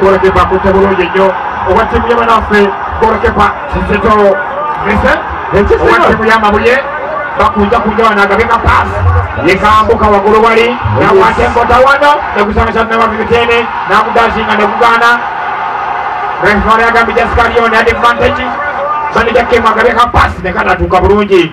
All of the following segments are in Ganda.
Goalkeeper akutte bulungi nnyo owa ttiimu ya banaffe goalkeeper Kizito Vincent owa ttiimu ya Mabuye bakunja kunja wano agabye ka paasi yekambuka waggulu wali nakwata enkota wano nekusanga kya Namabi Miteene nakudazinga nekugaana referee agambye just carry on advantage manager Kemu agabye ka paasi nekatatuuka bulungi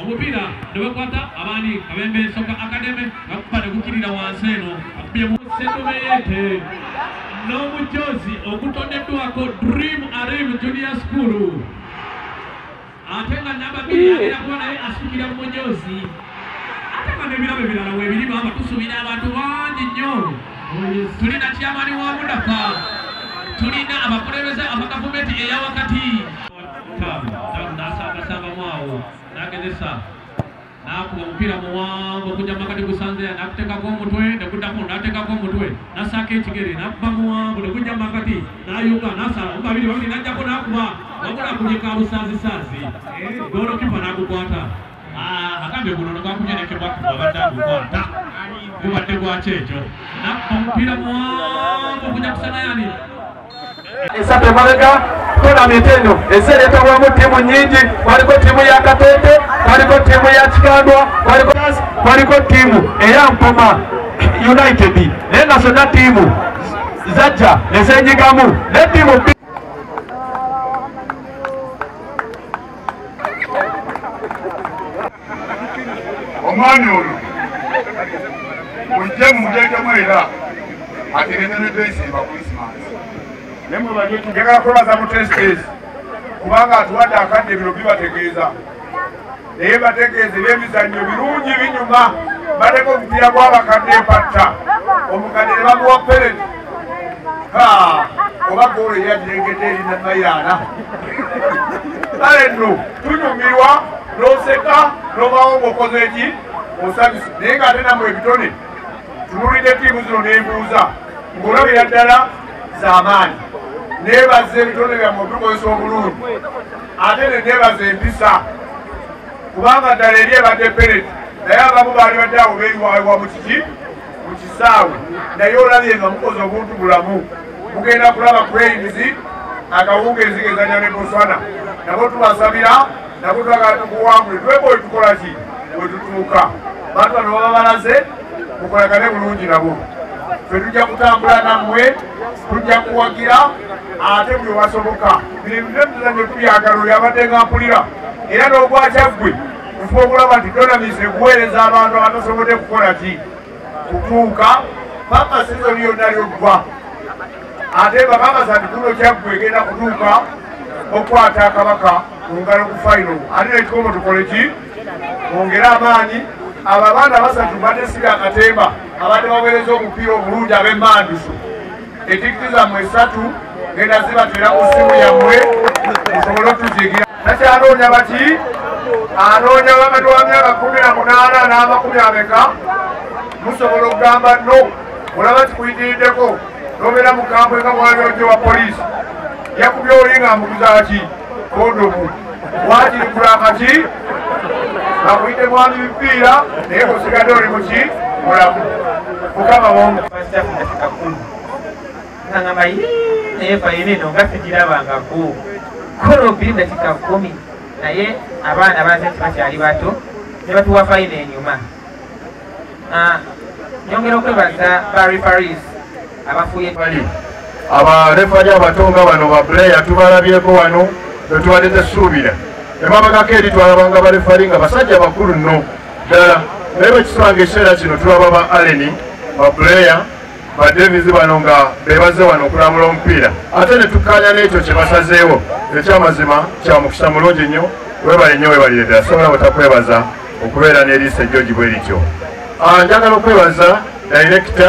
omupiira ne bakwata abaani kabembe soka akademe nakuba ne gukirira wansi eno akubye mu setomeyete n'omujoozi ogutoneddwako dream arim junior school ate nga nababiri agera kuba naye asukira mu mujoozi ate nga n'ebirabo ebirala webiri baba tusubira abantu bangi nnyo tulina kyamani wa mudafa tulina abakulembeze abagavumenti eyawakati Kaabu Kaabu n'asambasambamu awo n'agezesa n'akuba omupiira muwanvu okujja mu makati gusanzeya n'akuteekako omutwe ne guddako n'ateekako omutwe n'assaako ekigere n'akuba muwanvu ne gujja mu makati n'ayuga n'asala omu babiri babiri n'ajjako n'akuba wabula akubye kaabusaazisaazi goolokipa n'agukwata agambye guno nogwakunyolekebwa wabadde agukwata gubadde gwaki ekyo nakka omupiira muwanvu kuja kusanayani esatu emabega tonamiti eno ensi ereetawamu ttiimu nyingi waliko ttiimu ya katete waliko ttiimu ya kikandwa waliko ttiimu eya mpoma united naye nga zonna ttiimu zajja nezenyigamu ne ttiimu omwami ono mujje mumutekemu era ategenenetesimba krisimas njagala kwebaza mu testes kubanga atuwadde akadde bino bibategeeza naye bategeeza ebyemizannyo birungi binyuma bateka omupiira gwabakadde empatta omukadde ne bamuwa perenti oba goolo yajengedde erina mayaana kale nno tunyumirwa n'oseka n'obawo ng'okoze eki osabisa naye nga ate namwe ebitone tunulidde tiimu zino n'embuuza ng'olabira ddala z'amaanyi nebaza ebitone byamu obikozesa obulungi ate ne nebaza empisa kubanga ddala eri ebadde pereti naye abamu baali badde awo beyiwayiwa mu kiki mu kisaawe naye olabye nga mukoze obuntu bulamu mugenda kulaba crains akawungeezi gezanya ne botswana nabo tubasabira nabo twagala tukuwangule tweba otukola ki wetutuuka bantu bano baba balaze mukolagane bulungi nabo fe tujja kutambula nammwe tujja kuwagira ate buli obasoboka bino ebintu ebituzanye tubyagala oyo abadde nga mpulira era n'ogwakyaggwe kufuba okulaba nti donamisi ekuweereza abantu abatasobodde kukola ki kutuuka paka sizoni yonna lyoggwa ate bakakasa nti kuno kyaggu egenda kutuuka okukwata kabaka ku ngalo ku fayiro ate nekikomo tukole ki ongere amaanyi abo abaana basatu badde siri akatemba abadde baweereza omupiira obulungi ab'emmanduso etikiti zammwe esatu genda zibatera ku simu yammwe musobole otuzigira takyanoonya baki anoonya wakati wa myaka kumi na munaana n'amakumi ameka musobola okugamba no olaba kikuyitiriddeko nobeera mu kampu eka mwali ojo wa poliisi yakubya oli nga mbuguzaaki kondomu wakiri kurakaki akuyite mwami bipiira naye kusigadde oli muki mulamu mukama womukakulu nangamba naye fayinino nga sigirabangako kola obiri dakika kumi naye abaana baze nti bakyali bato ne batuwa fayina enyuma Ah, nyongera okwebaza ba referees abafuye bali abarefali abatonga bano ba player tubalabyeko wano bwetubadde tesuubira emabagako eri twalabanga barefali nga basajja bakulu nno ddala naye bwekisanga ekiseera kino tulaba ba aleni ba player badevizi bano nga bebazze wano okulambula omupiira ate ne tukkaanya n'ekyo kye basazeewo ekyamazima kya mukisa mulungi nnyo webale nnyo webalire ddala sobola butakwebaza okubeera n'eriisa ejjogi bwe lityo ah, njagala okwebaza dayirekita